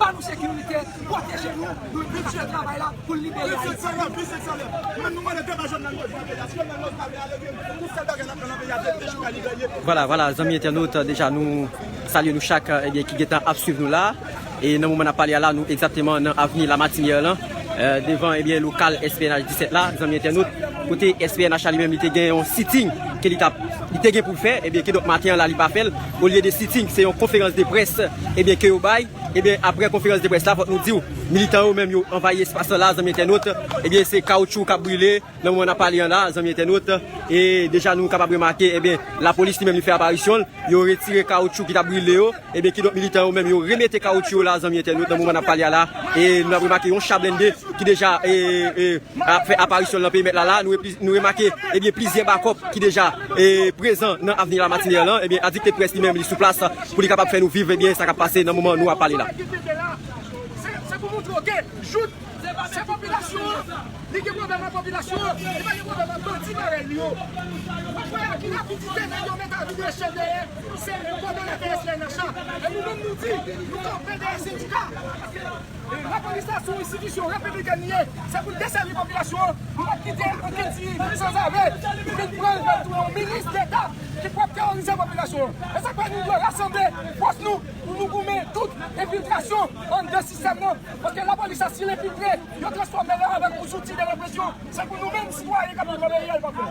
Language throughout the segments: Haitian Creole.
Ba nou sekirite, pwoteje nou, nou kontinye travay la pou libere Ayiti. Vwala, vwala, zanmi entènot, deja nou salye nou chak ebyen ki gentan ap swiv nou la. E nan moman n ap pale a la, nou egzakteman nan avni Lamatinyè lan, devan ebyen lokal SPNH 17 la, zanmi entènot, kote SPNH la li menm li te gen yon sitting ke li t ap, li te gen pou l fè, ebyen kidonk maten an la li pa fè l. Olye de sitting se yon konferans de près ebyen ke yo bay ebyen aprè konferans de près la fòk nou diw militan yo menm yo anvayi espas lan la zanmi entènot ebyen se kawoutchou kap brile nan moman nap pale an la zanmi entènot e deja nou kapab remake ebyen lapolis li menm li fè aparisyonl yo retire kawoutchou ki tap brile yo ebyen kidonk militan yo menm yo remete kawoutchou yo la zanmi entènot nan moman nap pale a la e nou ap remake yon cha blende ki deja e ap fè aparisyonl nan perimèt la la nou remake ebyen plizyè bakòp ki deja. prezan nan avni la matinèr lan ebyen adikte près li menm li sou plas pou li kapab fè nou viv ebyen sa kap pase nan moman nou ap pale la. Lapolis la se yon enstitisyon repiblikèn li ye, se pou l desèvi popilasyon an, nou pap kite okenn ti sanzave vin pran l pou yon minis deta ki pwòp teworize popilasyon an. E sa k fè nou dwe rasanble fòs nou pou nou goumen tout enfiltrasyon anndan sistèm nan, paske lapolis la si l enfiltre, yo transfòme l avèk yon zouti de represyon, se pou nou menm sitwayen k ap viv nan peyi a l pa fè.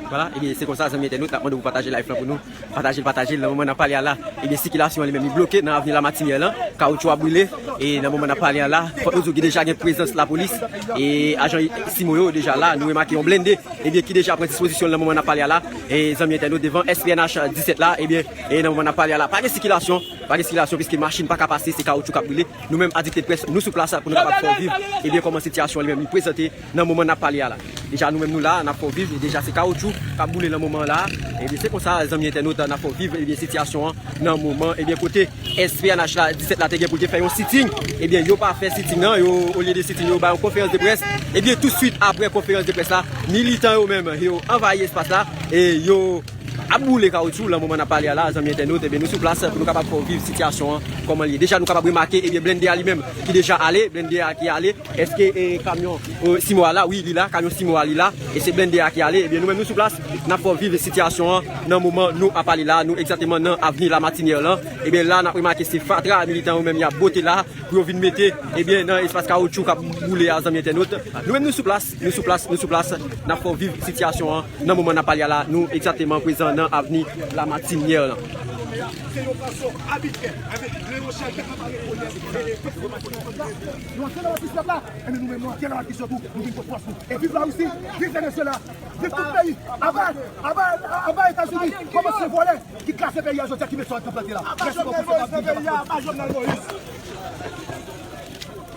Vwala ebyen se konsa zanmi entènot nap mande pou pataje live lan pou nou patajel patajel nan moman nap pale a la ebyen sikilasyon an li menm li bloke nan avni lamatinyè lan kawotchou ap brile e nan moman nap pale a la fòk nou di w gen deja gen prezans lapolis e ajan simo yo deja la nou remake yon blende ebyen ki deja pran dispozisyon l nan moman nap pale a la e zanmi entènot devan SPNH 17 la ebyen e nan moman nap pale a la pa gen sikilasyon pa gen sikilasyon piske machin paka pase se kawotchou kap brile nou menm adikteprès nou sou plas la pou nou kapab fè w viv ebyen kòman sitiyasyon an li menm li prezante. Nan moman nap pale a la deja nou menm nou la nap fè w viv e deja se kawoutchou kap boule nan moman an la ebyen se konsa zanmi entènot nap fè w viv ebyen sitiyasyon an nan moman ebyen kote SPNH la 17 la te gen pou l te fè yon sitting ebyen yo pa fè sitting nan yo olye de sitting yo bay yon konferans de près ebyen touswit aprè konferans de près la militan yo menm yo anvayi espas la e yo Ap boule kawoutchou lan moman nap pale a la zanmi entènot ebyen nou sou plas pou nou kapab fè w viv sitiyasyon an kòman l ye deja nou kapab remake ebyen blennde a li menm ki deja ale blennde a ki ale èske kamyon simo a la wi li la kamyon simo a li la e se blennde a ki ale ebyen nou menm nou sou plas nap fè w viv sitiyasyon an nan moman nou ap pale la a nou egzateman nan avni Lamatinière lan ebyen la nap remake se fatra militan yo menm yap bote la pou yo vin mete ebyen nan espas kawoutchou kap boule a zanmi entènot nou menm nou sou plas. Nou sou plas, nou sou plas, n ap fè w viv sitiyasyon an nan moman n ap pale a la, nou egzateman prezan nan avni Lamatinyè lan.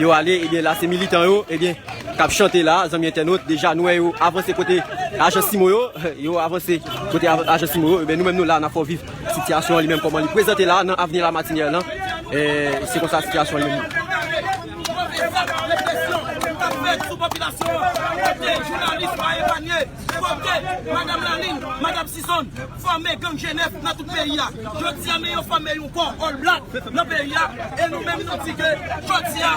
Yo ale ebyen la se militan yo ebyen kap chante la zanmi entènot deja nou wè yo avanse kote ajan simo yo yo avanse kote ajan simo yo ebyen nou menm nou la nap fè w viv sitiyasyon an li menm kòman li prezante la nan avni lamatinè lan se konsa sitiyasyon an ye. Fòme gang jenèf nan tout peyi a. Jodi a men yo fòme yon kò All Black nan peyi a e nou menm nou di ke jodi a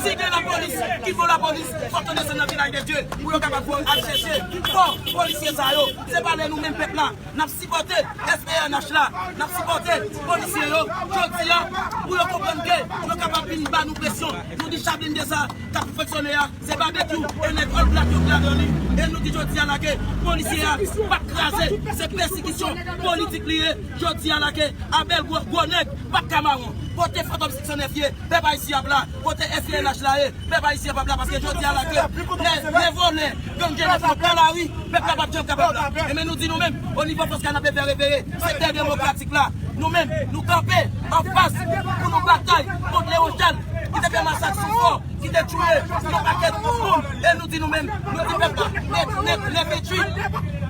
si gen lapolis ki fò lapolis fòk yo desann nan Vilaj de Dye pou yo kapab al chèche kò polisye sa yo. Se pa lè nou menm pèp la n ap sipòte SPNH la, n ap sipòte polisye yo jodi a pou yo konprann ke yo kapab vin ba nou presyon. Nou di cha blende sa k ap fonksyone a Se Babekyou e nèg All Black yo k ladan li e nou di jodi a la ke polisye a pat kraze se pèsikisyon politik li ye jodi a la ke Abel Gros gwo nèg pat ka mawon kote Fantom 609 ye pèp Ayisyen ap la kote FUNH la ye pèp Ayisyen pap la paske jodi a la ke lè vòlè gang jenes yo pran lari pèp la pap janm kapab la e men nou di nou menm o nivo fòs kanapé fè reveye sektè demokratik la nou menm nou kanpe anfas pou nou batay kont Leon Charles ki te fè masak sou fò. ki te touye yon pakèt moun e nou di nou menm nou di pèp la nèt nèt le 28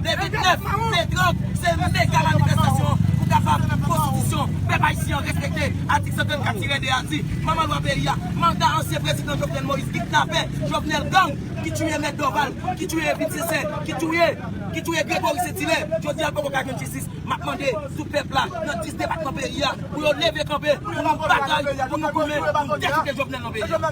le 29 le 30 se mega manifestasyon pou kapab konstitisyon pèp ayisyen an respekte atik 134 tire 2 a di manman lwa peyi a manda ansyen prezidan Jovenel Moïse kidnapè Jovenel gang ki touye mèt Dorval ki touye Evelyne Sincère ki touye ki touye Grégory Saint-Hilaire jodi a l poko ka jwenn jistis. Map mande sou pèp la nan 10 depatman peyi a pou yo leve kanpe pou nou batay pou nou goumen pou dekite Jovenel nan peyi a.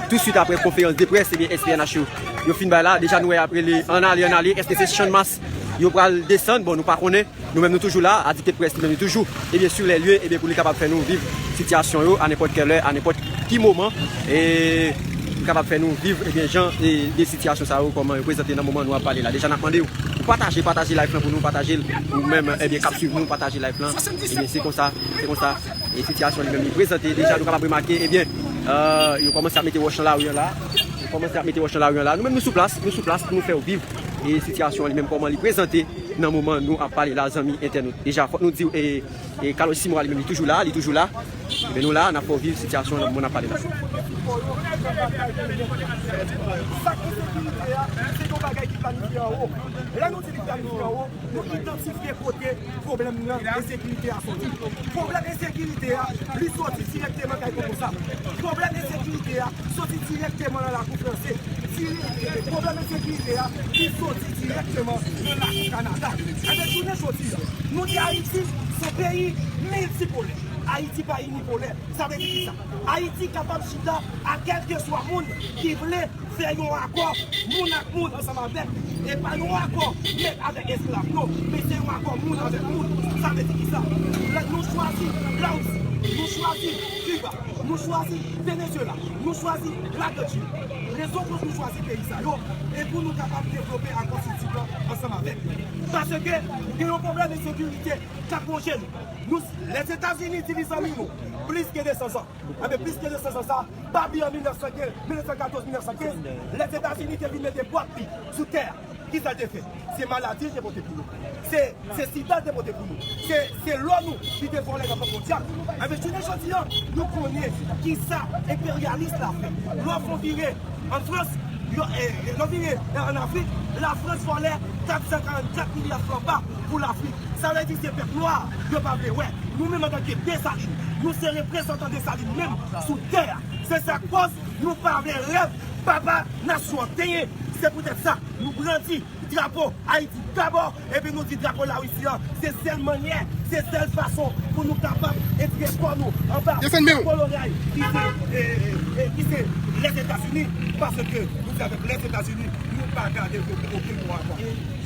Tout swit apre konferans de près SPNH yo fin bay la, deja nou wè yap rele an ale an ale, eske se channmas yo pral desann, bon nou pa konnen, nou menm nou toujou la, adite près li menm li toujou sur les lieux pou li kapab fè nou viv sitiyasyon yo a nenpòt kè lè, a nenpòt ki moman, pou li kapab fè nou viv jan de sitiyasyon sa yo kòman yo prezante nan moman nou ap pale la, deja nap mande ou pou pataje, pataje live lan pou nou, patajel ou menm kap swiv nou, pataje live lan, se konsa, se konsa. E sitiyasyon li menm li prezante deja nou kapab remake ebyen yo kòmanse ap mete wòch nan lari an la, yo kòmanse ap mete wòch nan lari an la. Nou menm nou sou plas, nou sou plas pou nou fè ou viv e sitiyasyon an li menm kòman li prezante nan moman nou ap pale la zanmi entènot. Deja fòk nou di ou e kalòj Simora li menm li toujou la, li toujou la. Ebyen nou la, n ap fè ou viv sitiyasyon an nan moman n ap pale la. Sa ki sekirite a, se yon bagay ki planifye anwo. Lè nou di li planifye anwo. Nou idantifye kote pwoblèm nan ensekirite a soti. Pwoblèm ensekirite a, li soti dirèkteman kay Koko Sam. Pwoblèm ensekirite a, soti dirèkteman nan lakou franse. Pwoblèm ensekirite a, li soti dirèkteman nan lakou Kanada. Ebe, jounen jodi a, nou di Ayiti se peyi miltipolè. Ayiti pa inipolè. Sa vle di kisa? Ayiti kapab chita ak kèlkeswa moun ki vle fè yon akò moun ak moun ansanm avèk li. E pa yon akò mèt avèk esklav non, men se yon akò moun avèk moun. Sa vle di ki sa? Nou chwazi Larisi, nou chwazi Kiba, nou chwazi Venezyela, nou chwazi Laganti. Rezon koz nou chwazi peyi sa yo, e pou nou kapab devlope akò Sidip lan ansanm avèk li. Paske gen yon pwoblèm ensekirite k ap wonje nou. Nou se Lèzetazini di li zanmi nou plis ke 200 zan. Enben, plis ke 200 zan sa a pa vle an 1915, 1914, 1915, Lèzetazini te vin mete pwòp li sou tè a. Ki sa l te fè? Se maladi l te pote pou nou. Se, se sida l te pote pou nou. Se, se lò nou li te vòlè nan Bank Mondyal. Enben, jounen jodi an, nou konnen ki sa enperyalis la fè. Lò w fè yon vire ann Frans, yo, e, lò w vire ann Afrik, Lafrans vòlè 444 milya fran pa. pou Lafrik. Sa vle di se pèp nwa yo pa vle wè. Nou menm antanke Desalin, nou se reprezantan Desalin menm sou tè a. Se sa k kòz nou pa vle rèv papa nasyon an tenyen. Se poutèt sa nou brandi drapo Ayiti dabò epi nou di drapo Larisi an se sèl mannyè, se sèl fason pou nou kapab etire kò nou anba kolonyay ki se Lèzetazini. Paske nou di avèk Lèzetazini nou pa gade okenn bon rapò.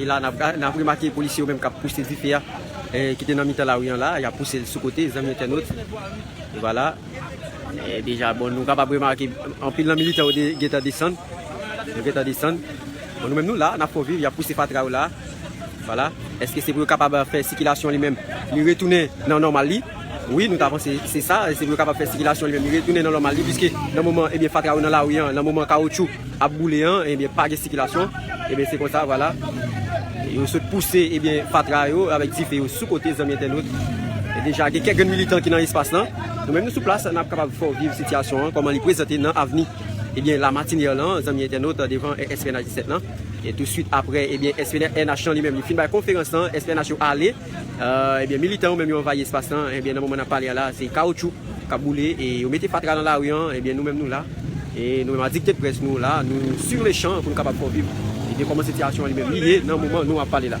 E la nap gade, nap remake polisye yo menm kap pouse dife a, ki te nan mitan lari an la, ya pouse l sou kote, zanmi entènot. Deja bon nou kapab remake anpil nan militè yo gentan desann. Yo gentan desann. Bon nou menm nou la, n ap fè w viv, y ap pouse fatra yo la. Vwala. Eske se pou yo kapab fè sikilasyon li menm li retounen nan nòmal li? Wi nou ta panse se sa. Se pou yo kapab fè sikilasyon li menm li retounen nan nòmal li. Piske nan moman ebyen fatra yo nan lari an, nan moman kawotchou. ap boule an ebyen pa gen sikilasyon ebyen se konsa vwala yo sot pouse ebyen fatra yo avèk dife yo sou kote zanmi entènot deja gen kèk grenn militan ki nan espas lan nou menm nou sou plas nap kapab fè w viv sitiyasyon an kòman li prezante nan avni ebyen la matinè lan zanmi entènot devan SPNH 17 lan e tou swit aprè ebyen SPNH lan li menm li fin bay konferans lan SPNH yo ale. Ebyen militan yo menm yo anvayi espas lan, ebyen nan moman nap pale a la se kawoutchou kap boule e yo mete fatra nan lari an, ebyen nou menm nou la e nou menm a dikteprès nou la nou sur le chan pou nou kapab fè w viv ebyen kòman sitiyasyon an li menm li ye nan moman nou ap pale la.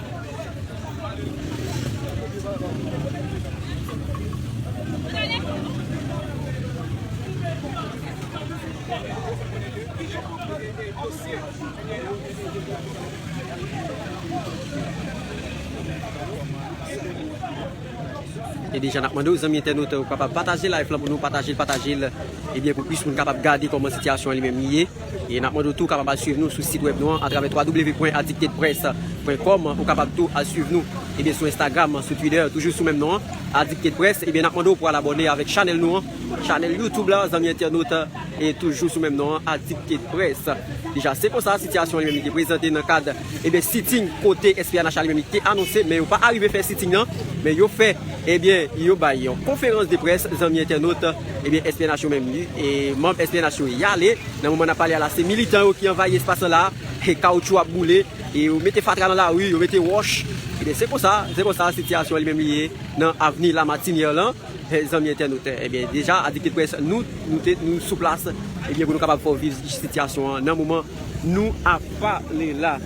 E deja nap mande ou zanmi entènot ou kapab pataje live la pou nou pataje l pataje l ebyen pou plis moun kapab gade kòman sitiyasyon an li menm li ye. E n ap mande w tou kapab al suiv nou sou sit wèb nou an atravè www.addictedpress.com Ou kapab tou al suiv nou ebyen sou Instagram, sou Twitter toujou sou menm non an addictedpress ebyen n ap mande w pou al abòne avèk chanèl nou an chanèl youtube la zanmi entènot e toujou sou menm non an addictedpress Deja se konsa sitiyasyon an li menm li te prezante nan kad ebyen sitting kote SPNH a li menm li te anonse men yo pa arive fè sitting lan men yo fè. Ebyen yo bay yon konferans de près zanmi entènot ebyen SPNH yo menm e manb SPNH yo yale nan moman nap pale a la se militan yo ki anvayi espas lan la e kawoutchou ap boule e yo mete fatra nan lari yo mete wòch ebyen se konsa se konsa sitiyasyon an li menm li ye nan avni Lamartinière lan zanmi entènot ebyen deja adikte près nou nou te nou sou plas ebyen pou nou kapab fè w viv sitiyasyon an nan moman nou ap pale la.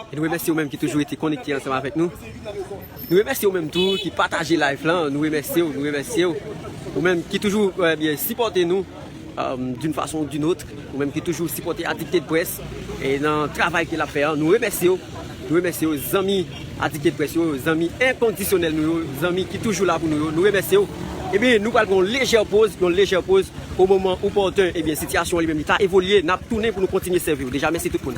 Nou remèsye ou menm ki toujou rete konekte ansanm avèk nou. Nou remèsye ou menm tou ki pataje live lan. Nou remèsye ou, nou remèsye ou. Ou menm ki toujou sipòte nou. D'une façon ou d'une autre, ou menm ki toujou sipòte Addicted Press nan travay ke l ap fè an, nou remèsye w, nou remèsye w zanmi Addicted Press yo, zanmi enkondisyonèl nou yo, zanmi ki toujou la pou nou yo, nou remèsye w. Ebyen nou pral pran yon lejè poz, yon lejè poz o moman opòten, ebyen sitiyasyon an li menm li ta evolye, n ap tounen pou nou kontinye sèvi w. Deja mèsi tout moun.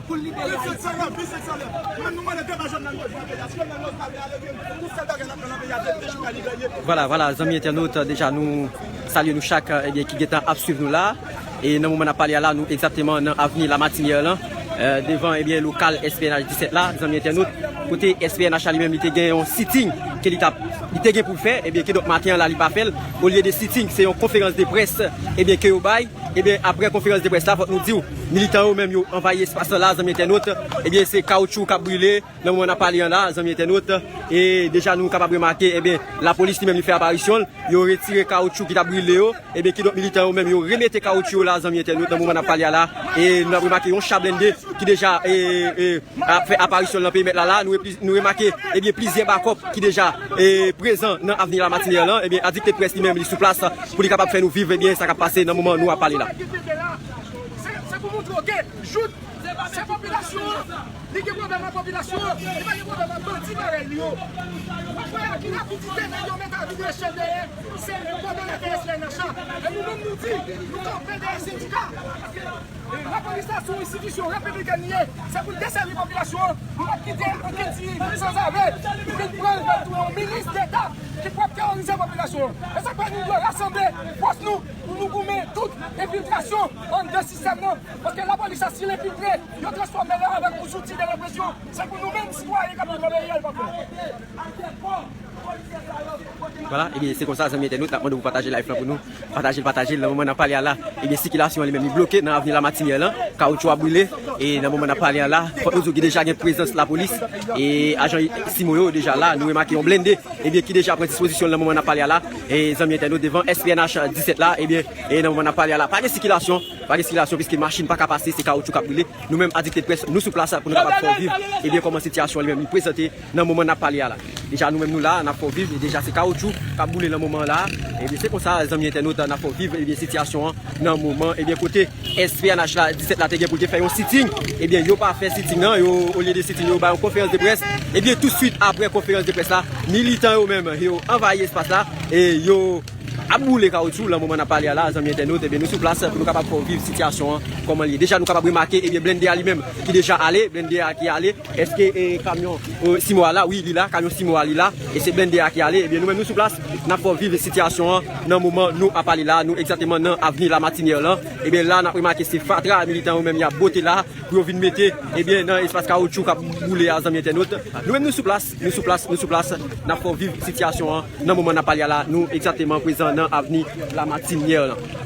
Pou l libere Ayiti. Vwala vwala zanmi entènot deja nou salye nou chak ebyen ki gentan ap swiv nou la e nan moman n ap pale a la nou egzakteman nan avni Lamatinyè lan devan ebyen lokal SPNH 17 la zanmi entènot kote SPNH la li menm li te gen yon sitting ke li t ap li te gen pou l fè ebyen kidonk maten an la li pa fè l olye de sitting se yon konferans de près ebyen ke yo bay ebyen aprè konferans de près la fòk nou di w. Militan yo menm yo anvayi espas lan la zanmi entènot, ebyen se kawoutchou kap brile nan moman nap pale an la zanmi entènot, e deja nou kapab remake ebyen lapolis li menm li fè aparisyon l, yo retire kawoutchou ki tap brile yo, ebyen kidonk militan yo menm yo remete kawoutchou yo la zanmi entènot nan moman nap pale a la, e nou ap remake yon cha blende ki deja ap fè aparisyon l nan perimèt la la, nou remake ebyen plizyè bakòp ki deja prezan nan avni Lamartine an lan, ebyen Adictepresse li menm li sou plas pou li kapab fè nou viv ebyen sa kap pase nan moman nou ap pale la. Se pou montre ok jout se popilasyon an li gen pwoblèm ak popilasyon an li pa gen pwoblèm ak bandi parèy li yo wap wè ak ki rapidite nèg yo met avi preche dèyè se kòdonè pnh la e nou menm nou di nou kanpe dèyè sendika paske lapolis la se yon enstitisyon repibliken li ye se pou l desèvi popilasyon an nou pap kite okenn ti sanzave pou vin pran l pou l tounen yon minis deta ki pwal teworize popilasyon an e se pou fè nou dwe rasanble fòs nou. Pou nou goumen tout enfiltrasyon anndan sistèm nan, paske lapolis sa si l enfiltre, yo transfòme l avèk yon zouti de represyon, se pou nou menm sitwayen k ap viv anderyè l pa pè. Vwala, ebyen se konsa zanmi entènot, n ap mande pou pataje live lan pou nou, pataje l pataje l, nan moman n ap pale a la, ebyen sikilasyon an li menm li bloke nan avni Lamatinyè lan, kawotchou a brile, e nan moman n ap pale a la, fòk nou di w deja gen prezans lapolis, e ajan simo yo deja la, nou remake yon blende, ebyen ki deja pran dispozisyon l nan moman n ap pale a la. E zanmi entènot devan SPNH 17 la ebyen e nan moman nap pale a la pa gen sikilasyon pa gen sikilasyon piske machin paka pase se kawotchou kap boule nou menm adikte près nou sou plas la pou nou kapab fè w viv ebyen kòman sitiyasyon li menm li prezante nan moman nap pale a la deja nou menm nou la nap fè w viv deja se kawotchou kap boule nan moman an la ebyen se konsa zanmi entènot nap fè w viv ebyen sitiyasyon an nan moman ebyen kote. SPNH la 17 la te gen pou l te fè yon sitting, ebyen yo pa fè sitting nan, yo olye de sitting yo bay yon konferans de près, ebyen tout swit aprè konferans de près la, militan yo menm yo anvayi espas la, e yo ap boule kawoutchou, lan moman n ap pale a la zanmi entènot ebyen nou sou plas pou nou kapab fè w viv sitiyasyon an kòman l ye, deja nou kapab remake ebyen blende a li menm ki deja ale, blende a ki ale, èske kamyon 6 mwa a la, wi li la, kamyon 6 mwa a li la, e se blende a ki ale, ebyen nou menm nou sou plas. N ap viv sitiyasyon an nan moman nou ap pale la a, nou egzateman nan avni Lamatinyè lan. Ebyen la n ap remake se fatra militan yo menm y ap bote la pou yo vin mete ebyen nan espas kawoutchou k ap boule a zanmi entènot. Nou menm nou sou plas, nou sou plas, nou sou plas n ap fè w viv sitiyasyon an nan moman n ap pale a la a, nou egzateman prezan nan avni Lamatinyè lan.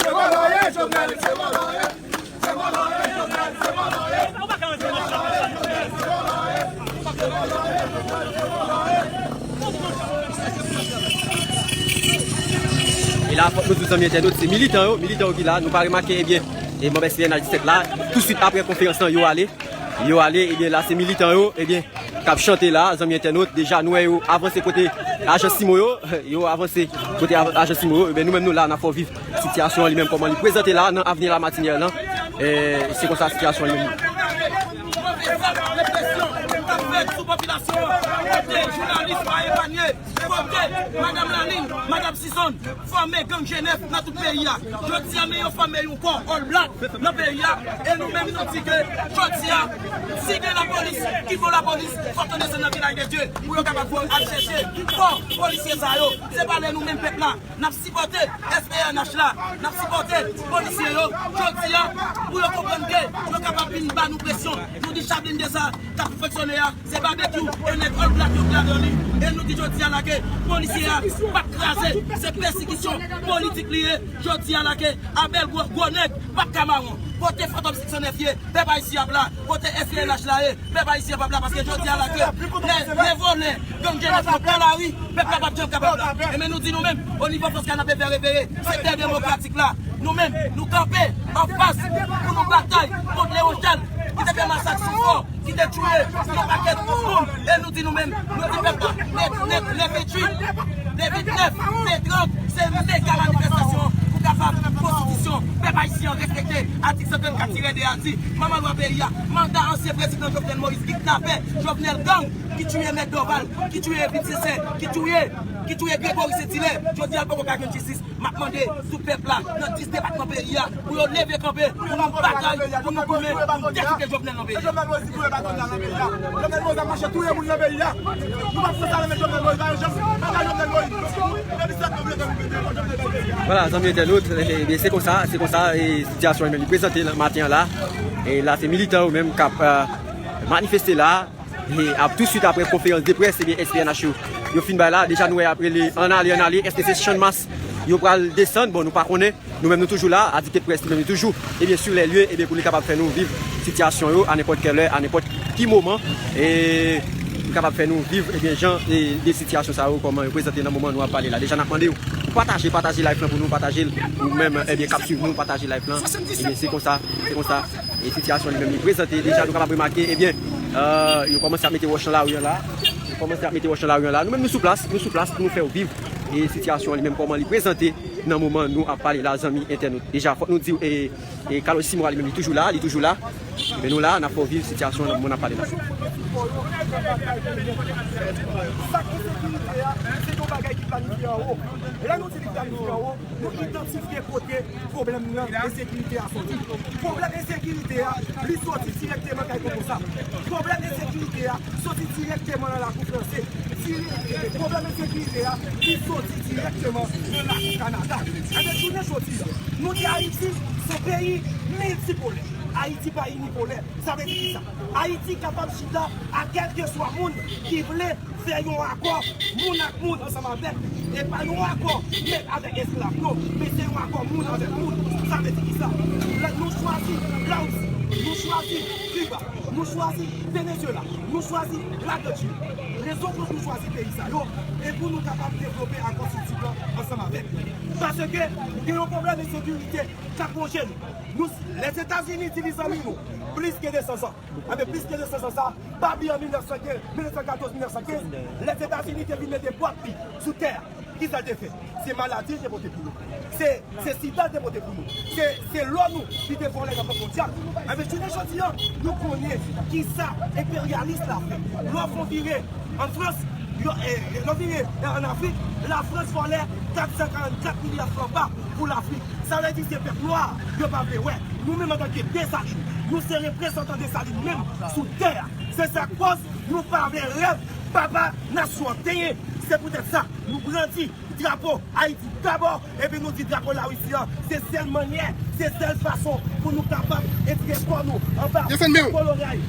Se vòlò ye jovenel se vòlò ye se vòlò ye jovenel se vòlò ye se vòlò ye jovenel se vòlò ye se vòlò ye jovenel se vòlò ye e la fòk nou di zanmi entènot se militan yo militan yo ki la nou pa remake ebyen e manb SPNH 17 la tou swit aprè konferans lan yo ale yo ale ebyen la se militan yo ebyen. kap chante la zanmi entènot deja nou wè yo avanse kote ajan simo yo yo avanse kote ajan simo yo nou menm nou la nap fè w viv sitiyasyon an li menm kòman li prezante la nan avni lamatinière lan se konsa sitiyasyon an ye menm Fòme gang jenèf nan tout peyi a. Jodi a men yo fòme yon kò All Black nan peyi a e nou menm nou di ke jodi a si gen lapolis ki fon lapolis fòk yo desann nan Vilaj de Dye pou yo kapab pou al chèche kò polisye sa yo. Se pa lè nou menm pèp la n ap sipòte SPNH la, n ap sipòte polisye yo jodi a pou yo konprann ke yo kapab vin ba nou presyon. Nou di cha blende sa k ap foksyone a Se Babekyou e nèg All Black yo k ladan li e nou di jodi a la ke polisye a pap kraze se pèsikisyon politik li ye jodi a la ke Abel Gros gwo nèg pap ka mawon kote Fantom 509 ye pèp Ayisyen ap la kote FUNH la ye pèp Ayisyen pap la paske jodi a la ke lè vòlè gang jenes yo pran lari pèp la pap janm kapab la e men nou di nou menm o nivo fòs kanapé fè reveye sektè demokratik la nou menm nou kanpe anfas pou nou batay kont Leon Charles ki te fè masak sou fò. ki te touye yon pakèt moun e nou di nou menm nou di pèp la nèt nèt le 28 le 29 le 30 se mega manifestasyon pou kapab konstitisyon pèp ayisyen an respekte atik 134 tire 2 a di manman lwa peyi a manda ansyen prezidan Jovenel Moïse kidnapè Jovenel gang ki touye mèt Dorval ki touye Evelyne Sincère ki touye ki touye Grégory Saint-Hilaire jodi a l poko ka jwenn jistis. Map mande sou pèp la nan 10 depatman peyi a pou yo leve kanpe pou nou batay pou nou goumen pou dekite Jovenel nan peyi a. Tou swit apre konferans de près SPNH yo fin bay la, deja nou wè yap rele ann ale ann ale, eske se channmas yo pral desann, bon nou pa konnen, nou menm nou toujou la, Adite Press li menm li toujou ebyen sur les lieux ebyen pou li kapab fè nou viv sitiyasyon yo a nenpòt kè lè, a nenpòt ki moman li kapab fè nou viv ebyen jan de sitiyasyon sa yo kòman yo prezante nan moman nou ap pale la, deja nap mande ou pou pataje, pataje live lan pou nou, pataje l ou menm ebyen kap swiv nou, pataje live lan ebyen se konsa, se konsa. E sitiyasyon li menm li prezante deja nou kapab remake ebyen yo kòmanse ap mete wòch nan lari an la, yo kòmanse ap mete wòch nan lari an la. Nou menm nou sou plas, nou sou plas pou nou fè ou viv e sitiyasyon an li menm kòman li prezante nan moman nou ap pale la zanmi entènot. Deja fòk nou di ou e kalòj Simora li menm li toujou la, li toujou la. Ebyen nou la, n ap fè ou viv sitiyasyon nan moman n ap pale la. Pwoblèm nan ensekirite a soti. Pwoblèm ensekirite a li soti dirèkteman kay Koko Sam. Pwoblèm ensekirite a soti dirèkteman nan lakou franse. Pwoblèm ensekirite a li soti dirèkteman nan lakou Kanada. Ebyen jounen jodi a, nou di Ayiti son peyi miltipolè. Ayiti pa inipolè. Sa vle di kisa? Ayiti kapab chita ak kèlkeswa moun ki vle fè yon akò moun ak moun ansanm avèk li. E pa yon akò mèt avèk esklav non, men se yon akò moun avèk moun. Sa vle di kisa? Nou chwazi Lawisi, nou chwazi Kiba, nou chwazi Venezyela, nou chwazi Lagrechini. Rezon koz nou chwazi peyi sa yo, e pou nou kapab devlope akò sou tip lan ansanm avèk li. Paske gen yon pwoblèm ensekirite k ap wonje nou. Nou se Lèzetazini di li zanmi nou plis ke 200 zan. Enben, plis ke 200 zan sa a pa vle an 1915, 1914, 1915, Lèzetazini te vin mete pwat li sou tè a. Ki sa l te fè? Se maladi l te pote pou nou. Se se sida l te pote pou nou. Se se lò nou li te vòlè nan Bank Mondyal. Enben, jounen jodi a, nou konnen ki sa enperyalis la fè. Lò w fè yon vire an Frans, yon vire an Afrik, Lafrans vòlè 444 milya fran pa. Pou Lafrik. Sa vle di se pèp nwa a yo pa vle wè. Nou menm antanke Desalin, nou se reprezantan Desalin menm sou tè a. Se sa k kòz nou pa vle rèv papa nasyon an tenyen. Se poutèt sa nou brandi drapo Ayiti dabò epi nou di drapo Larisi an se sèl mannyè, se sèl fason pou nou kapab etire kò nou anba koloray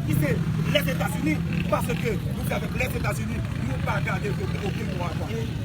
ki se Lèzetazini. Paske nou di avèk Lèzetazini nou pa gade okenn mwa ankò.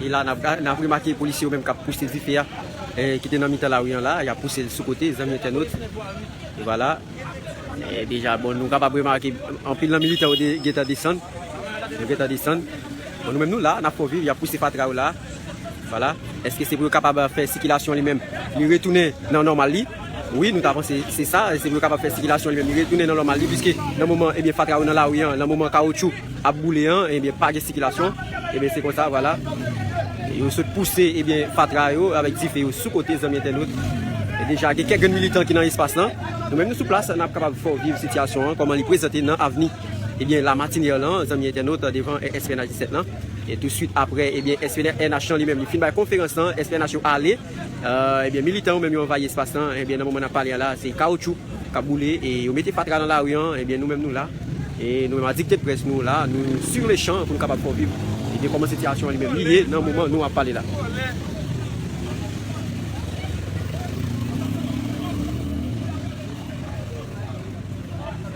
E la n ap remake polisye yo menm k ap pouse dife a ki te nan mitan lari an la, y ap pouse l sou kote zanmi entènot. E wala, e deja bon nou kapab remake anpil nan militè yo te gentan desann, yo gentan desann. Bon nou menm nou la nap fè w viv yap pouse fatra yo la Voilà eske se pou yo kapab fè sikilasyon li menm li retounen nan nòmal li wi nou ta panse se sa se pou yo kapab fè sikilasyon li menm li retounen nan nòmal li piske nan moman ebyen fatra yo nan lari an nan moman kawotchou ap boule an ebyen pa gen sikilasyon ebyen se konsa voilà yo sot pouse ebyen fatra yo avèk dife yo sou kote zanmi entènot e deja gen kèk grenn militan ki nan espas lan nou menm nou sou plas nap kapab fè w viv sitiyasyon an kòman li prezante nan avni. Ebyen la matinèr lan zanmi entènot devan SPNH 17 lan e tou swit aprè ebyen SPNH lan li menm li fin bay konferans lan SPNH yo ale ebyen militan yo menm yo anvayi espas lan ebyen nan moman nap pale a la se kawoutchou kap boule e yo mete fatra nan lari an ebyen nou menm nou la e nou menm adik tdprès nou la nou sur le chan pou nou kapab fè w viv ebyen kòman sitiyasyon an li menm li ye nan moman nou ap pale la.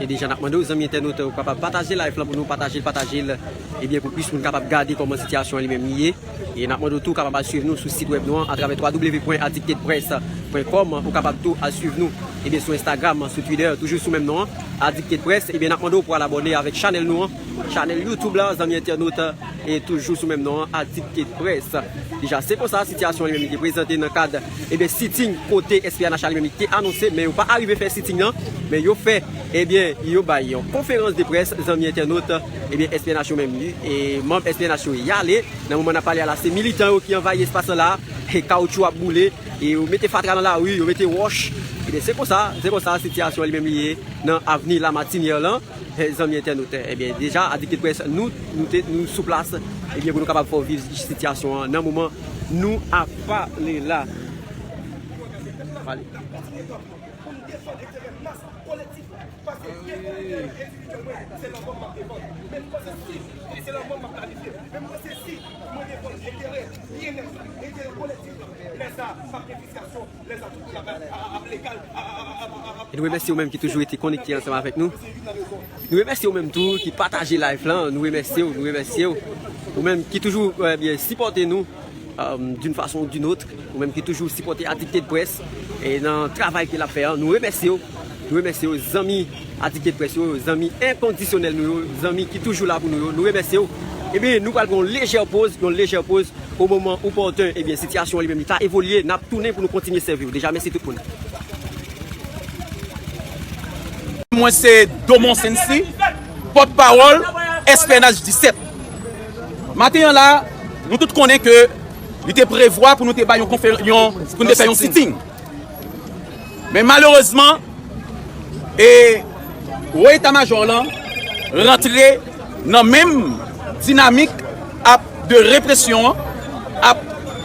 E deja nap mande ou zanmi entènot ou kapab pataje live la pou nou pataje l pataje l ebyen pou plis moun kapab gade kòman sitiyasyon an li menm li ye. E nap mande w tou kapab al swiv nou sou sit wèb nou an atravè www.addictedpress.com ou kapab tou al swiv nou ebyen sou Instagram, sou Twitter toujou sou menm non an addictedpress ebyen nap mande w pou al abòne avèk chanèl nou an chanèl youtube la zanmi entènot e toujou sou menm non an addictedpress deja se konsa sitiyasyon an li menm li te prezante nan kad ebyen sitting kote SPNH a li menm li te anonse men yo pa arive fè sitting nan men yo fè ebyen yo bay yon konferans de près zanmi entènot. Ebyen SPNH yo menm ui e manb SPNH yo y ale nan moman nap pale a la se militan yo ki anvayi espas lan la e kawoutchou ap boule e yo mete fatra nan lari yo mete wòch ebyen se konsa se konsa sitiyasyon an li menm li ye nan avni Lamartinière lan zanmi entènotè ebyen deja adikteprès nou nou te nou sou plas ebyen pou nou kapab fè w viv sitiyasyon an nan moman nou ap pale la pale. Nou remèsye ou menm ki toujou rete konekte ansanm avèk nou. Nou remèsye ou menm tou ki pataje live lan. Nou remèsye ou, nou remèsye ou. Ou menm ki toujou sipòte nou. D'une façon ou d'une autre, ou menm ki toujou sipòte Addicted Press nan travay ke lap fè an, nou remèsye w, nou remèsye w zanmi Addicted Press yo, zanmi enkondisyonèl nou yo, zanmi ki toujou la pou nou yo, nou remèsye w. Ebyen nou pral pran yon lejè poz, yon lejè poz o moman opòten, ebyen sitiyasyon an li menm li ta evolye, nap tounen pou nou kontinye sèvi w. Deja mèsi tout moun. Mwen se Domon Sency, pòt pawòl SPNH 17. Maten an la, nou tout konnen ke li te prevwa pou nou te bay yon konferans, pou nou te fè yon sitting. Men malerezman, e wo eta majò lan rantre nan menm dinamik ap de represyon an, ap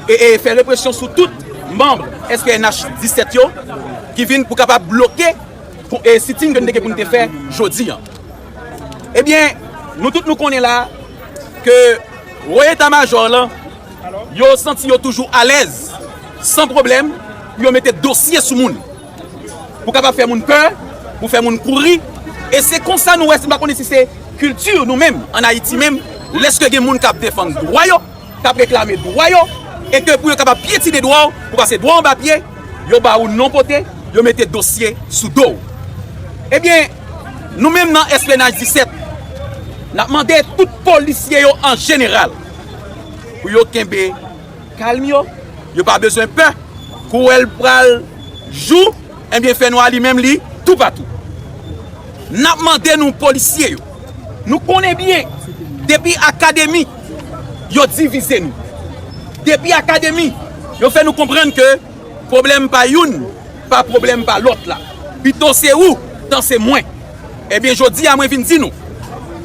e fè represyon sou tout manb SPNH 17 yo, ki vin pou kapab bloke sitting ke nou te gen pou nou te fè jodi an. Ebyen, nou tout nou konnen la, ke wo eta majò lan, yo santi yo toujou alèz, san pwoblèm, pou yo mete dosye sou moun. Pou kapab fè moun pè, pou fè moun kouri, e se konsa nou wè, se pa konnen si se kilti nou menm, an Ayiti menm, lèske gen moun kap defann dwa yo, k ap reklame dwa yo e ke pou yo kapab pyetine dwa w, pou pase dwa w anba pye, yo ba ou non pote, yo mete dosye sou do w. Ebyen, nou menm nan SPNH 17, n ap mande tout polisye yo an jeneral pou yo kenbe kalm yo, yo pa bezwen pè, kouwèl pral jou. Ebyen fè nwa li menm li tou patou. Nap mande nou polisye yo, nou konnen byen depi akademi yo divize nou. Depi akademi yo fè nou konprann ke pwoblèm pa youn pa pwoblèm pa lòt la. Pito se ou tan se mwen. Ebyen jodi a mwen vin di nou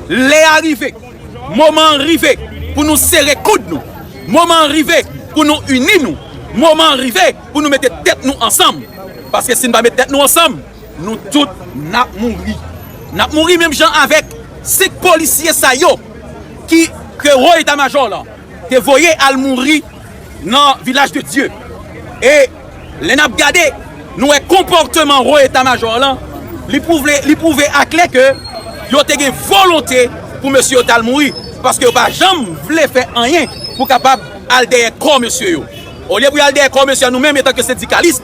lè a rive, moman an rive pou nou sere koud nou. Moman an rive pou nou ini nou. Moman an rive. pou nou mete tèt nou ansanm paske si n pa met tèt nou ansanm nou tout nap mouri nap mouri menm jan avèk 5 polisye sa yo ki ke wo eta majò lan te voye al mouri nan vilaj de dye e lè nap gade nou wè konpòteman wo eta majò lan li pwouvle li pwouve aklè ke yo te gen volonte pou mesye yo tal mouri paske yo pa janm vle fè anyen pou kapab al dèyè kò mesye yo. Olye pou y al dèyè kò mesye an nou menm etanke sendikalis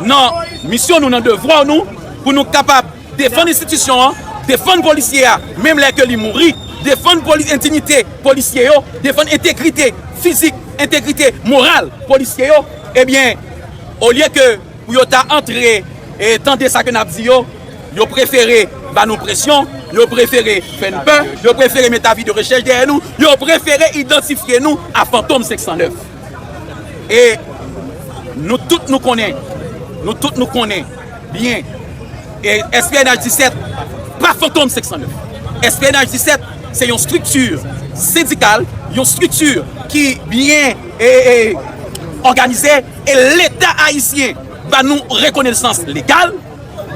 nan misyon nou, nan devwa nou pou nou kapab defann enstitisyon an, defann polisye a menm lè ke li mouri, defann endignite polisye yo, defann entegrite fizik, entegrite moral polisye yo ebyen olye ke pou yo ta antre tande sa ke n ap di yo, yo prefere ba nou presyon, yo prefere fè n pè, yo prefere met avi de rechèch dèyè nou, yo prefere idantifye nou a fantom 509. E nou tout nou konnen, nou tout nou konnen byen, SPNH 17 pa fantom 509. SPNH 17 se yon strikti sendikal, yon strikti ki byen òganize, e leta ayisyen ba nou rekonesans legal,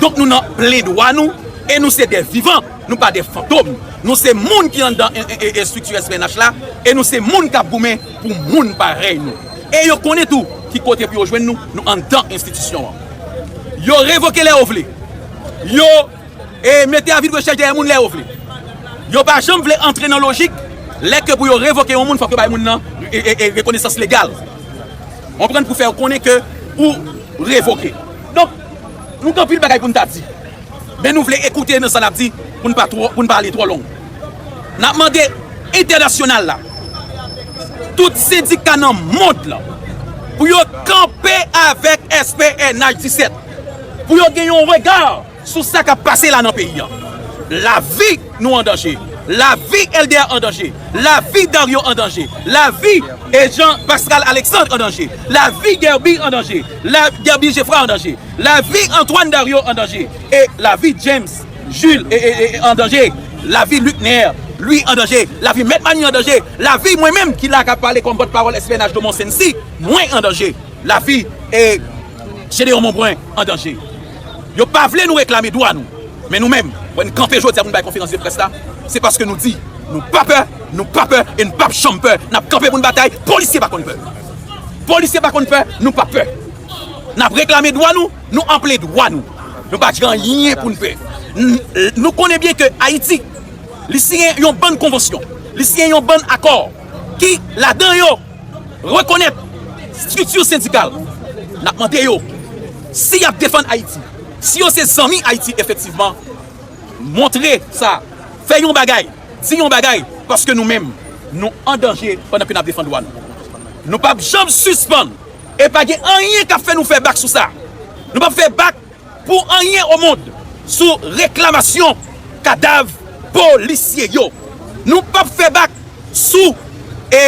donk nou nan plen dwa nou, e nou se de vivan, nou pa de fantom. Nou se moun ki anndan estrikti SPNH la, e nou se moun k ap goumen. pou moun parèy nou e yo konnen tou ki kote pou yo jwenn nou, nou anndan enstitisyon an. Yo revoke lè yo vle. Yo mete avi de rechèch dèyè moun lè yo vle. Yo pa janm vle antre nan lojik lè ke pou yo revoke yon moun fòk yo bay moun nan rekonesans legal. Konprann pou fè yo konnen ke pou revoke. Donk, nou gen anpil bagay pou nou ta di. men nou vle ekoute nan sa lap di pou n pa ale twò long. Nap mande entènasyonal la, tout sendika nan mond lan pou yo kanpe avèk SPNH 17, pou yo gen yon rega sou sa kap pase la nan peyi an. Lavi nou an danje, lavi Elder an danje, lavi Dario an danje, lavi Jean Pascal Alexandre an danje, lavi Guerby an danje, lavi Guerby Geffrard an danje. Lavi Antoine Dario an danje e lavi James Jules ee an danje Lavi Luckner Louis an danje Lavi Mèt Manie an danje Lavi mwen menm ki la kap pale kòm pòt pawòl SPNH de Mont-Saincy mwen an danje Lavi ee Gédéon Monbrun an danje Yo pa vle nou reklame dwa nou Men nou menm wè n kanpe jodi a pou n bay konferans de près la se paske nou di nou pa pè nou pa pè e n pap janm pè n ap kanpe pou n batay Polisye pa konn pè Polisye pa konn pè nou pap pè. N ap reklame dwa nou, nou anple dwa nou. Nou pa di anyen pou n pè. Nou konnen byen ke Ayiti, li siyen yon bann konvansyon, li siyen yon bann akò ki ladan yo rekonèt strikti sendikal. N ap mande yo, si y ap defann Ayiti, si yo se zanmi Ayiti efektivman, montre sa, fè yon bagay, di yon bagay, paske nou menm nou an danje pandan ke n ap defann dwa nou. Nou p ap janm sispann! E pa gen anyen kap fè nou fè bak sou sa. Nou pap fè bak pou anyen o mond sou reklamasyon kadav polisye yo. Nou pap fè bak sou e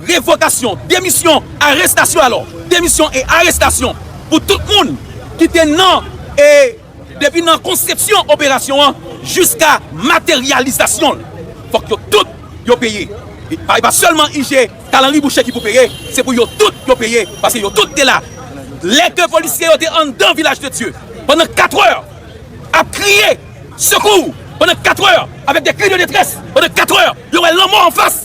revokasyon, demisyon, arestasyon alò, demisyon e arestasyon pou tout moun ki te nan e. Depi nan konsepsyon operasyon an jiska materyalizasyon l, fòk yo tout yo peye. E pa sèlman IG, Kalanri Boucher ki pou peye, se pou yo tout yo peye paske yo tout te la. Lè ke polisye yo te anndan Vilaj de Dye pandan 4 è ap kriye sekou, pandan 4 è avèk de kri de detrès, pandan 4 è yo wè lanmò anfas,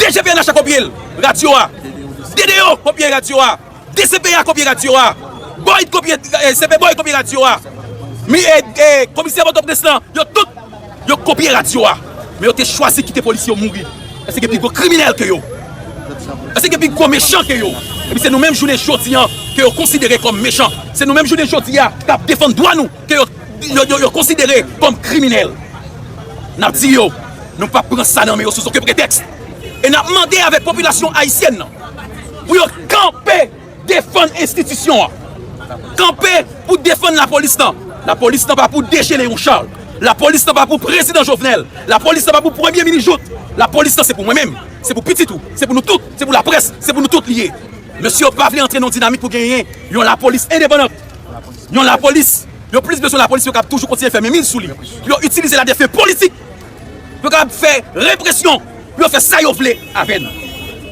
DG pnh a kopye l, radyo a, DDO kopye radyo a. Dcpè kopye radyo a. Boyd kopye CP Boyd kopye radyo a. Komisè Pòtoprens lan, yo tout, yo kopye radyo a. Men yo te chwazi kite polisye yo mouri. Èske gen pi gwo kriminèl ke yo? Èske gen pi gwo mechan ke yo? Epi se nou menm jounen jodi an ke yo konsidere kòm mechan. Se nou menm jounen jodi a k ap defann dwa nou ke yo konsidere kòm kriminèl. N ap di yo, nou p ap pran sa nan men yo sou zoken pretèks. E n ap mande avèk popilasyon ayisyèn nan. Pou yo kanpe defann enstitisyon an. Kanpe pou defann la polis nan. La polis nan pa pou deje le yon chal. La polis nan pa pou prezidan jovenel. La polis nan pa pou premye mini jout. La polis nan se pou mwen menm. Se pou pitit ou. Se pou nou tout. Se pou la pres. Se pou nou tout liye. Mesye yo pa vle antre nan dinamik pou genyen yon la polis endepandant. Yon la polis. Yo plis beswen la polis yo kap toujou kontinye fè men min sou li. Pou yo itilize la defen politik. Yo kapab fè represyon pou yo fè sa yo vle avè nou.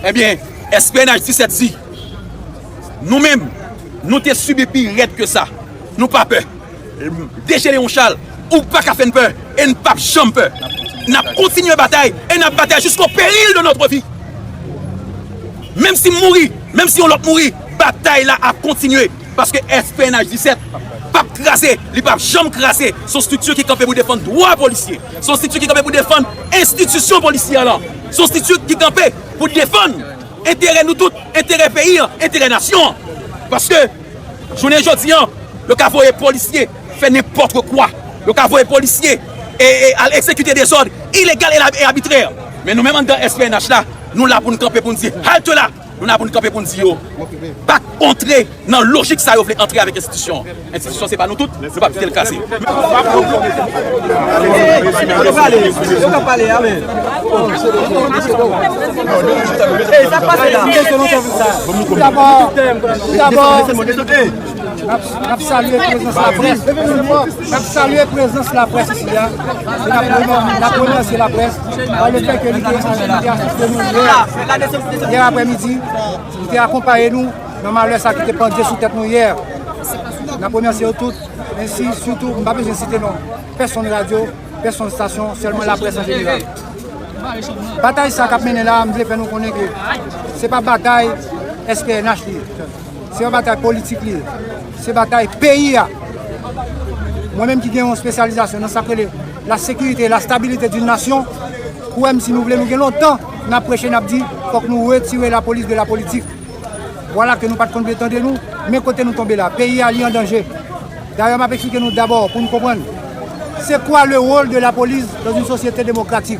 Ebyen, SPNH 17 di, nou menm, nou te sibi pi rèd ke sa. Nou pa pè. DG Léon Charles, ou pa ka fè n pè e n pap janm pè. N ap kontinye batay e n ap batay jisko peril de notre vi. Menm si m mouri, menm si yon lòt mouri, batay la ap kontinye. Paske FPNH 17 p ap kraze, li p ap janm kraze. Se yon strikti ki kanpe pou defann dwa polisye. Se yon strikti ki kanpe pou defann enstitisyon polisyè lan. Se yon strikti ki kanpe pou defann enterè nou tout, enterè peyi an, enterè nasyon an. Paske, jounen jodi an, yo ka voye polisye fè nenpòtre kwa. Yo ka voye polisye al ekzekite dezòd ilegal e abitrè. Men nou menm anndan SPNH la, nou la pou nou kanpe pou nou di, Halte la! Nou la pou n kanpe pou n di yo pa k antre nan lojik sa yo vle antre avèk enstitisyon an. Enstitisyon se pa nou tout, nou pa p kite l kraze. Nap salye prezans laprès Nap salye prezans laprès isi a e nap remèsye laprès pa le fè ke li te anvi li te asiste nou yè yè aprè midi li te akonpaye nou nan malè sa ki te pandye sou tèt nou yè nap remèsye yo tout men si soutou m pa bezwen site non pèsonn radyo pèsonn stasyon sèlman laprès an jeneral batay sa kap mennen la m vle fè nou konnen ke se pa batay SPNH li ye Se yon batay politik li ye. Se batay peyi a. Mwen menm ki gen yon spesyalizasyon nan sa k rele la sekirite e la stabilite d'une nasyon, kwè m si nou vle nou gen lontan n ap preche n ap di fòk nou retire la polis de la politik. Vwala ke nou pat konn vle tande nou, men kote nou tonbe la. Peyi a li an danje. Dayè m ap eksplike nou dabò pou nou konprann se kwa le wol de la polis dan yn sosyete demokratik.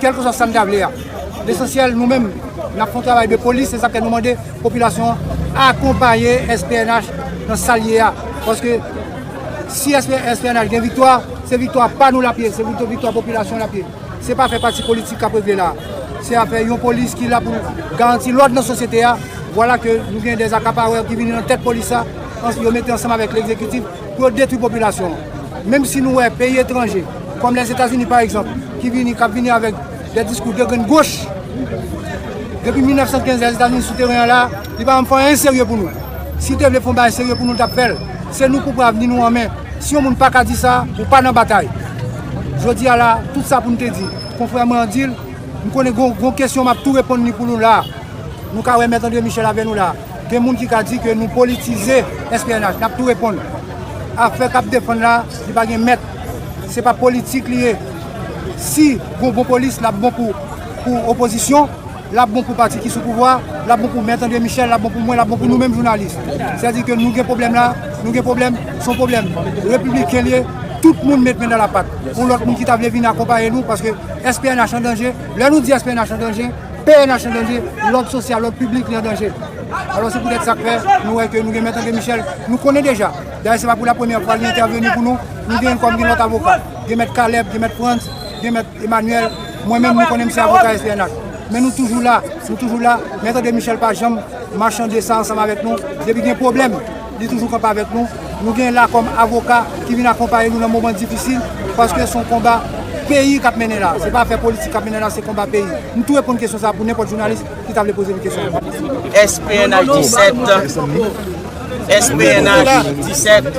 Kèlkeswa sa n ta vle a, lesansyèl nou menm n ap fè yon travay de polis, se sa k fè nou mande popilasyon an akonpaye SPNH nan sa l ye a. Paske si SPNH gen viktwa, se viktwa pa nou l ap ye, se viktwa popilasyon l ap ye. Se pa afè pati politik k ap regle la a, se afè yon polis ki la pou l garanti lòd nan sosyete a. Vwala ke nou gen dè akapawè ki vini nan tèt polis la, yo mete ansanm avèk legzekitif. pou yo detwi popilasyon an. Menm si nou wè peyi etranje, kòm Lèzetazini pa egzanp, ki vini, k ap vini avèk dè diskou dè grenn goch, depi 1915 Lèzetazini sou teren an la, li pa janm fè anyen serye pou nou. Si l te vle fè yon bagay serye pou nou, l t ap fè l. Se nou ki pran avni nou an men. Si yon moun pa ka di sa, ou pa nan batay. Jodi a la, tout sa pou m te di, konfrè mwen an di l, m konnen gen yon kesyon m ap tou reponn li pou nou la a. Nou ka wè Mèt Andre Michèl avè nou la a. Gen moun ki ka di ke nou politize SPNH, nap tou reponn. Afè kap defann la, li pa gen mèt. Se pa politik li ye. Si gon bon polis, lap bon pou opozisyon, lap bon pou pati ki sou pouvwa, lap bon pou mèt Andre Michel, lap bon pou mwen, lap bon pou nou menm jounalis. Sa di ke nou gen pwoblèm la, nou gen pwoblèm, son pwoblèm repibliken li ye, tout moun met men nan lapat pou lòt moun ki ta vle vin akonpaye nou, paske SPNH an danje. Lè nou di SPNH an danje. Pnh an danje, lòd sosyal, lòd piblik li an danje. Alò se poutèt sa k fè nou wè ke nou gen Mèt André Michel, nou konnen deja, dayè se pa pou la premyè fwa li entèveni pou nou, nou gen l kòm gen lòt avoka, gen Mèt Caleb, gen Mèt Frantz, gen Mèt Emmanuel, mwen menm nou konnen m se avoka SPNH. Men nou toujou la, nou toujou la, Mèt André Michel pa janm machande sa ansanm avèk nou, depi gen pwoblèm. Li toujou kanpe avèk nou. Nou gen la kòm avoka ki vin akonpaye nou nan moman difisil paske son konba peyi kap mennen la. Se pa afè politik kap mennen la se konba peyi. M tou reponn kesyon sa pou nenpòt jounalis ki ta vle poze m kesyon. S pnh 17 S pnh 17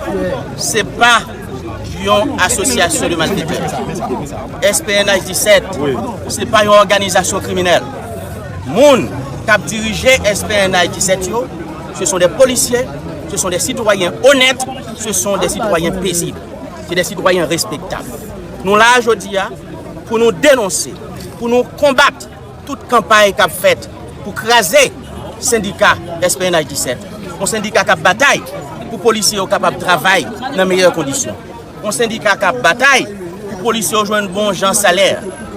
se pa yon asosyasyon de malfetè. S pnh 17 se pa yon òganizasyon kriminèl. Moun kap dirije S pnh 17 yo. Se son de polisye, se son de sitwayen onèt, se son de sitwayen pezib, se de sitwayen respektab. Nou la a jodi a pou nou denonse, pou nou konbat tout kanpay k ap fèt pou kraze sendika SPNH 17. Yon sendika k ap batay pou polisye yo kapab travay nan meyè kondisyon. Yon sendika k ap batay pou polisye yo jwenn bon jan salè.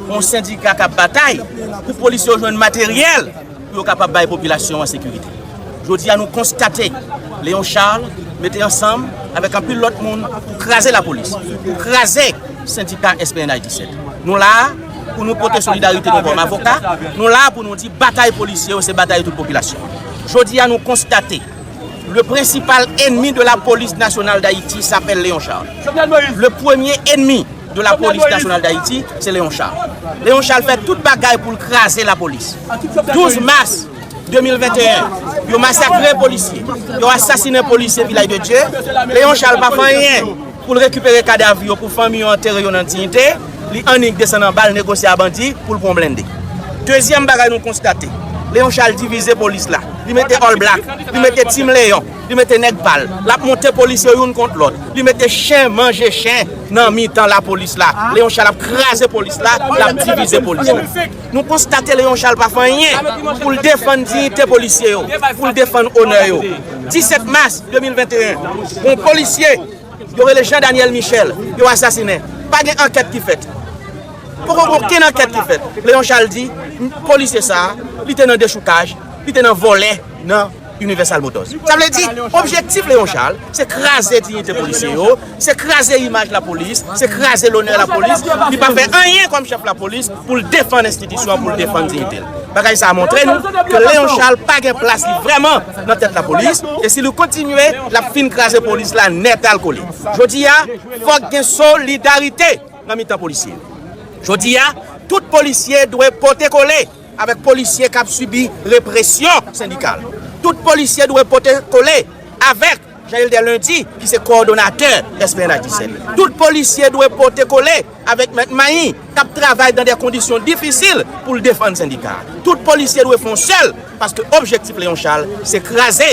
Yon sendika k ap batay pou polisye yo jwenn materyèl. pou yo kapab bay popilasyon an sekirite. Jodi a nou konstate Léon Charles mete ansanm avèk anpil lòt moun pou kraze lapolis, pou kraze sendika SPNH 17. Nou la a pou nou pote solidarite nou kòm avoka, nou la a pou nou di batay polisye yo se batay tout popilasyon an. Jodi a nou konstate. Le prensipal enmi de la polis nasyonal dayiti sapèl Leon Charles. Le premye enmi de la polis nasyonal dayiti se Leon Charles. Leon Charles fè tout bagay pou l kraze la polis. 12 mas 2021, yo masakre polisye, yo asasine polisye Vilay de Dye, Leon Charles pa fè anyen. Pou l rekipere kadav yo pou fanmi yo antere yo nan diyite, li annik desann anba al negosye a bandi pou l pran yon blende. Dezyèm bagay nou konstate, Leon Charles divize polis la. Li mete All Black, li mete Team Leon, li mete nèg pa l. L ap monte polis yo youn kont lòt. Li mete chen manje chen nan mitan lapolis la. Leon Charles ap kraze polis la, l ap divize polis la. Nou konstate Léon Charles pa fè anyen pou l defann diyite polisye yo, pou l defann onè yo. 17 mas 2021, yon polisye yo rele Jean Daniel Michel, yo asasinen. Pa gen ankèt ki fèt. Poko gen okenn ankèt ki fèt. Léon Charles di, polisye sa a, li te nan dechoukaj, li te nan vòlè nan. Universal Motors. Sa vle di, objektif Léon Charles, se kraze dignité polisye yo, se kraze imaj la polis, se kraze lonè la polis, li pa fè anyen kòm chèf la polis pou l defann enstitisyon an, pou l defann dignité l. Bagay sa a montre nou ke Léon Charles pa gen plas li vrèman nan tèt la polis, e si li kontinye, l ap fin kraze polis la nètalkole. Jodi a, fòk gen solidarite nan mitan polisye yo. Jodi a, tout polisye dwe pote kole. Avèk polisye k ap sibi represyon sendikal, tout polisye dwe pote kole avèk Jean Hilder Lundi ki se kowòdonatè SPNH 17. Tout polisye dwe pote kole avèk mèt Mahin k ap travay dan dè kondisyon difisil pou l defann sendika a. Tout polisye dwe fon sèl paske objektif Leon Charles se kraze.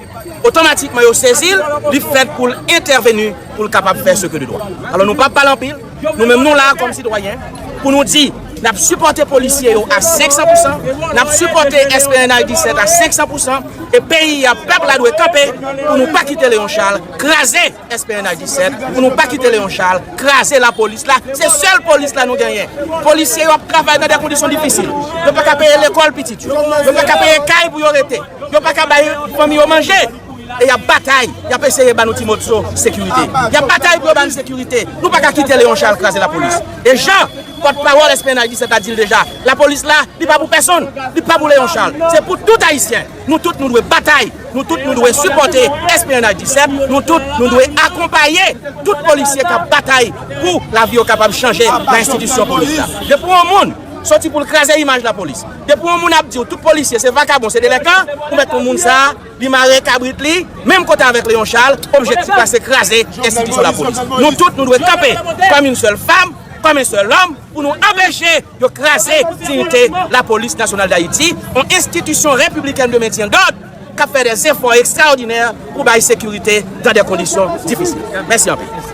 otomatikman yo sezi l, li fèt pou l entèveni pou l kapab fè seke de dwa. Alò nou pap pale anpil, nou menm nou la kòm sitwayen pou nou di n ap sipòte polisye yo a 500 pou 100, n ap sipòte SPNH 17 a 500 pou 100 e peyi a, pèp la dwe kanpe pou nou pa kite Leon Charles kraze. Esperena Guisset pou nou pa kite Leon Charles kraze lapolis la se sèl polis la nou genyen polisye yo ap travay nan de kondisyon difisil yo paka peye lekòl pitit yo yo paka peye kay pou yo rete yo paka bay fanmi yo manje e yap batay yap eseye ba nou ti mòtso sekirite yap batay pou yo ba nou sekirite nou paka kite Leon Charles kraze lapolis e jan pòt pawòl Esperena Guisset la dil deja lapolis la li pa pou pèsonn li pa pou Leon Charles se pou tout ayisyen. Nou tout nou dwe batay, nou tout nou dwe sipòte Esplanade Disèp, nou tout nou dwe akonpaye tout polisye k ap batay pou lavi yo kapab chanje nan enstitisyon polis la. Depi yon moun soti pou l kraze imaj lapolis, depi yon moun ap di w tout polisye se vakabon, se delenkan, ou mèt konn moun sa a, li mare kabrit li menm kote avèk Leon Charles, objektif la se kraze enstitisyon lapolis. Nou tout nou dwe kanpe kòm yn sèl fam, kòm yn sèl òm. pou nou anpeche yo kraze diyite Lapolis Nasyonal Dayiti, yon enstitisyon repiblikèn de mentyen dòd k ap fè dè zefò ekstraòdinè pou bay sekirite dan dè kondisyon difisil. Mèsi anpil.